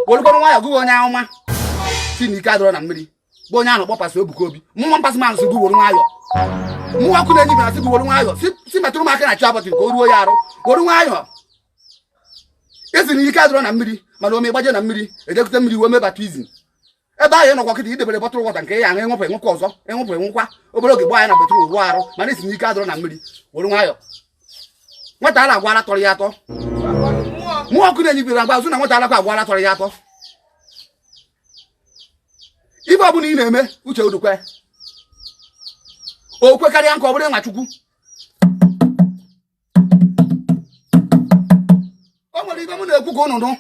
werukwanụ nwayọ gị bụ onye ahụ ma sị na ike adịrọ na mmiri bụ onye a na-akpọ pastọ Ebuka Obi man pass man sị gị weru nwayọ mmụọ ọkụ na-enye ibera sị gị weru nwayọ si metụrụ m aka na chi abọchị ka o ruo ya arụ weru nwayọ ị sị na ike adịrọ na mmiri mana o mee ị gbaje na mmiri edekute mmiri wee mee baptizim ebe ahụ ị nọkwa kịta i debere bottle water nke ya ahụ ị ṅụpụ ị ṅụkwa ọzọ ị ṅụpụ ị ṅụkwa obere oge ị baa na bathroom wụọ arụ mana ị sị n'ike adịrọ na mmiri were nwayọ nwata ala agwara tọrọ ya atọ mmụọ ọkụ na-enye igwe agba azụ na nwata alakwa agwara tọrọ ya atọ ife ọbụla ị na-eme uche gị dịkwa o kwekarịa ka ọ bụrụ nwa chukwu o nwere ife m na-ekwu ka ụnụ nụ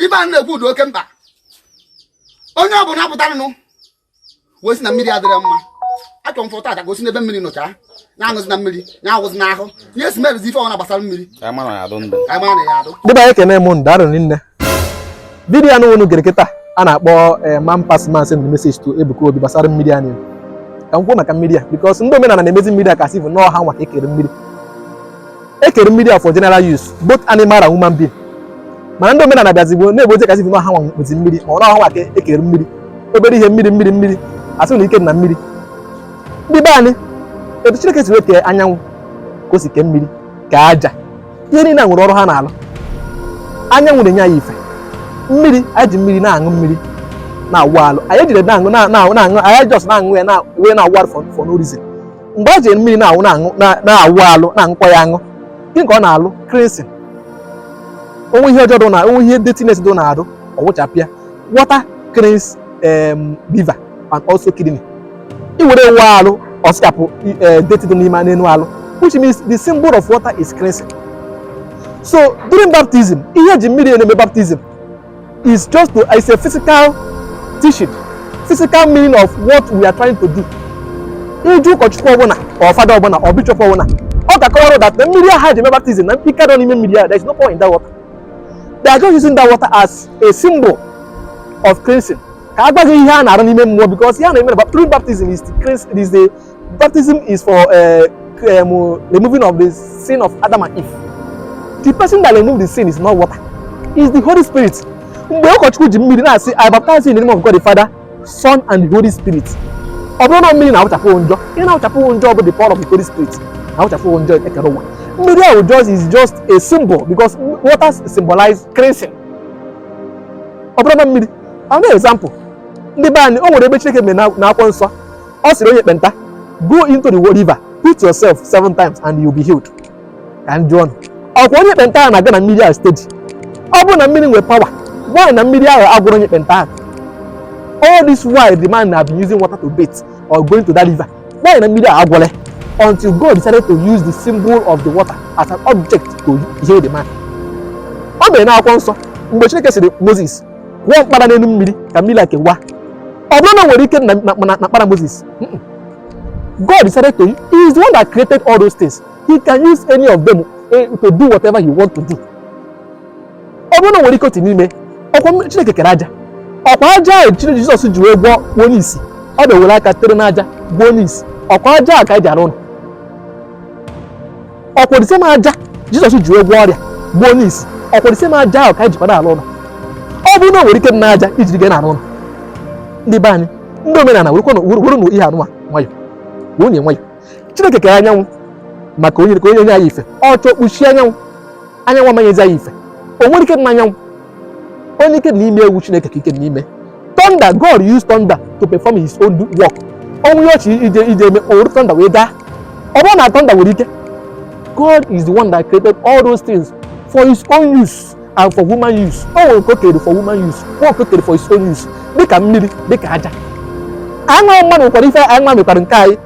ife a na-ekwu dị oke mkpa onye ọ bụla pụtaranụ wee sị na mmiri adịrọ mma achọrọ m fọta gosi n'ebe mmiri nọcha ya aṅụzina mmiri ya awụzina ahụ ihe si merụzi ife ọbụna gbasara mmiri ndị be anyị ekene m ụnụ rinne vidiyo ahụ unu gere kịta a na-akpọ eh, man pass man send message to Ebuka Obi gbasara mmiri anyị ka m kwuo maka mmiri a because ndị omenala na-emezi mmiri a ka a sị bụ na ọọ ha nwa ka ekere mmiri ekere mmiri a for general use both animal and human being mana ndị omenala bịazigbo na-egbozi ka a sị bụ na ọọ ha nwa nwezi mmiri ma ọ bụ na ọọ ha nwa ka ekere mmiri obere ihe mmiri mmiri mmiri a sị na ike na mmiri ndị be anyị etu Chineke si wee kee anyanwụ ka o si kee mmiri ka aja ihe niile nwere ọrụ ha na-alụ anyanwụ na-enye anyị ife mmiri anyị ji mmiri na-aṅụ mmiri na-awụ alụ anyị ejirọ na-aṅụ na-aṅụ anyị just na-aṅụ ya wee na-awụ alụ for no reason mgbe a ji mmiri na-awụ na-awụ alụ na-aṅụkwa ya aṅụ gịnị ka ọ na-alụ cleansing o nwee ihe ọjọọ dị na o nwee ihe dirtiness dị n'arụ ọ wụchapụ ya water cleans liver and also kidney i were ya wụọ alụ ọ sachapụ eh, dirty dị n'ime n'elu alụ which means the symbol of water is cleansing so during baptism ihe e ji mmiri na-eme baptism is just to it's a physical teaching physical meaning of what we are trying to do ị jụọ ụkọchukwu ọbụla or fada ọbụla or bishop ọbụla ọ ga-akọwara that na mmiri ahụ e ji eme baptism na mpika nọ n'ime mmiri ahụ there is no power in that water they are just using that water as a symbol of cleansing ka a gwa gị ihe a na-arụ n'ime mmụọ because ihe a na-eme during baptism is is the baptism is for uh, um, removing of the sin of Adam and Eve the person that remove the sin is not water is the Holy Spirit mgbe ụkọchukwu ji mmiri na-asị I baptize in the name of God the Father Son and the Holy Spirit ọ bụrọ na mmiri na-awụchapụ njọ ihe na-awụchapụ njọ bụ the power of the Holy Spirit na-awụchapụ njọ ekere ụwa mmiri ahụ just is just a symbol because water symbolize cleansing ọ bụrụ na mmiri another example ndị be anyị o nwere ebe Chineke mere na akwụkwọ nsọ ọ sịrị onye ekpenta go into the river put yourself seven times and you be healed ka m jụọ nụ ọkwa onye ekpenta ahụ na-aga na mmiri ahụ steady ọ bụrụ na mmiri nwere power why na mmiri ahụ agwọrọ onye ekpenta ahụ all this while the man have been using water to bathe or going to that river why na mmiri a agwọrọ ya until God decided to use the symbol of the water as an object to heal the man. ọ mere n'akwụkwọ nsọ mgbe Chineke sịrị Moses kụọ mkpara n'elu mmiri ka mmiri a kewa ọ bụrọ na e nwere ike na mkpara Moses God decided to he is the one that created all those things he can use any of them eh, to do whatever he want to do ọ bụrọ na o nwere ike otu n'ime ọkwa chineke kere aja ọkwa aja a chineke jizọs ji wee gwọọ gwọọ onye isi ọ bịa were aka tere n'aja gwọọ onye isi ọkwa aja a ka anyị ji arụ ụlọ ọkwa the same aja jizọs ji wee gwọọ ọrịa gwọọ onye isi ọkwa the same aja ahụ ka anyị jikwara arụ ụlọ ọ bụrụ na o nwere ike dị n'aja i jiri gịnị arụ ụlọ ndị be anyị ndị omenala were kwanụ were were nụ ihe a nụnwa nwayọ werenụ ya nwayọ chineke kere anyanwụ maka o nye ka o nye o nye anyị ife ọ chọọ kpuchie anyanwụ anyanwụ ama enyezi anyị ife o nwerọ ike na anyanwụ onye ike na ime ya wụ chineke ka ike na ime thunder god used thunder to perform his own work o nwee ihe ọ chọ ije ije eme o wuru thunder wee gaa ọ bụrọ na thunder nwere ike god is the one that created all those things for his own use and for human use o nwere nke o kere for human use o nke o kere for his own use dịka mmiri dịka aja anyị wụ mmadụ nwekwara ife anyị nwa mekwara nke anyị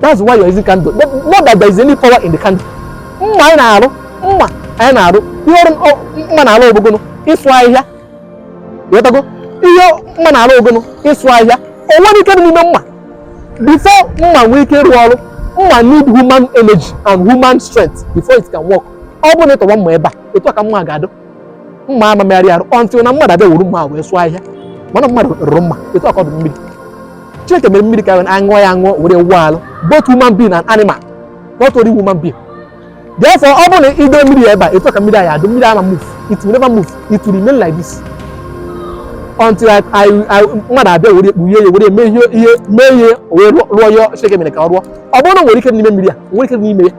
that's why you're using candle not that there is any power in the candle mma anyị na-arụ mma anyị na-arụ ihe ọrụ mma na-arụ ọ bụ gịnị ịsụ ahịhịa ị wọtago ihe mma na-arụ ọ bụ gịnị ịsụ ahịhịa o nwerọ ike dị n'ime mma before mma nwee ike ịrụ ọrụ mma need human energy and human strength before it can work ọ bụrụ na ị tọwa mma ebe a etu a ka mma ga-adụ mma ama emegharị arụ until na mmadụ abịa wuru mma wee sụọ ahịhịa mana mmadụ rụrụ mma etu a ka ọ dụ mmiri chineke mere mmiri ka a ṅụọ ya aṅụọ were wụọ alụ both human being and animal not only human being therefore ọ bụrụ na ị dọọ mmiri a ebe a etu a ka mmiri a ya-adụ mmiri ama move it will never move it will remain like this until mmadụ abịa wee kpughe ya were mee ihe ihe mee ihe wee rụọ ya chineke mere ka ọ rụọ ọ bụrọ na e nwere ike n'ime mmiri a e nwerọ ike n'ime ya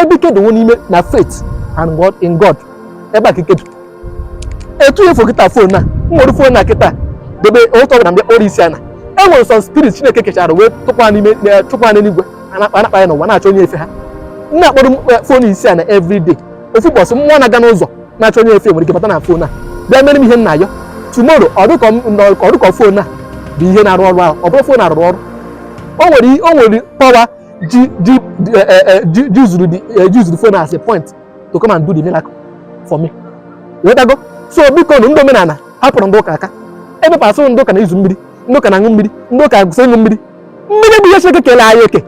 ebe ike dị wụ n'ime na faith and God in God ebe a ka ike dị etu ị fụ kịta fon a m were fon a kịta debe ụtụtụ ọbụla m bịa kpọrọ isi ana e nwere some spirit chineke kechara wee tụkwa n'ime eh, chụpụ ha n'eluigwe ha na-akpa ha na-akpagharị n'ụwa na-achọ onye efe ha m na-akpọrọ m eh, fon isi ana everyday ofu ụbọchị mmụọ na-aga n'ụzọ na-achọ onye efe nwere ike bata na fon a bịa mere m ihe m na-ayọ tomorrow ọ dụ ka fon a bụ ihe na-arụ ọrụ ahụ ọ bụrọ fon na-arụ ọrụ o nwere power yuzuru eh, eh, eh, phone as a point to come and do the miracle for me ịghọtago so bikonụ ndị omenala hapụrụ ndị ụka aka ebe pasụrụ ndị ụka na-eyuzu mmiri ndị ụka na-aṅụ mmiri ndị ụka akwụsị ịṅụ mmiri mmiri bụ ihe Chineke kele anyị eke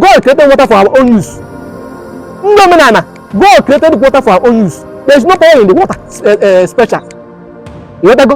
God created water for our own use ndị omenala God created water for our own use there is no power in the water special ịghọtago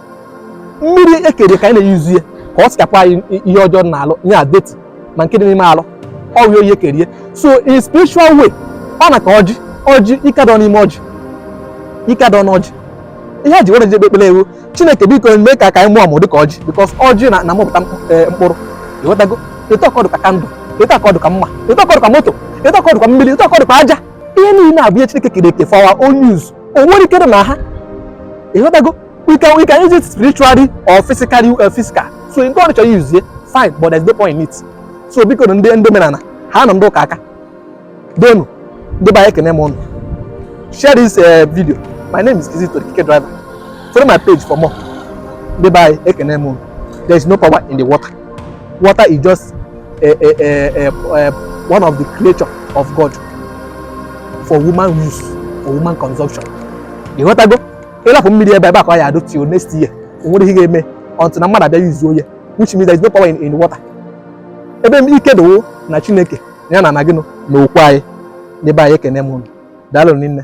mmiri e kere ka anyị na-eyuzu ya ka ọ sachapụ anyị ihe ọjọọ n'alụ ihe dirty ma nke dị n'ime alụ ọ wụ ihe e kere ya so in spiritual way ọ na ka ọjị ọjị ike adọ n'ime ọjị ike adọ n'ọjị ihe e ji were ọjị ekpe ekpere wụ chineke biko mee ka ka anyị mụọ mụ dịka ọjị because ọjị na na-amịpụta e, mkpụrụ ịghọtago etu a ka ọ dụ ka candle etu a ka ọ dụ ka mma etu a ka ọ dụ ka moto etu a ka ọ dụ ka mmiri etu a ka ọ dụ ka aja ihe niile a bụ ihe chineke kere eke for our own use o nwere ike na ha ịghọtago we can we can use it spiritually or physically uh, physical so nke onye chọ use ya fine but there's no power in it so bikonụ ndị ndị omenala hanụ ndị ụka aka doonụ ndị be anyị ekene m ụnụ share this uh, video my name is Kizito the Keke Driver follow my page for more ndị be anyị ekene m ụnụ there is no power in the water water is just a, a, a, a, a, one of the creature of God for human use for human consumption ịghọtago ị lapụ mmiri ebe ebe a ka ọ ya-adụ till next year o nwere ihe ga-eme until na mmadụ abịa yuzuo ya which means there is no power in, in water ebe ike dị wụ na chineke ya na na gịnụ na okwu anyị ndị be anyị ekene m ụnụ daalụ rinne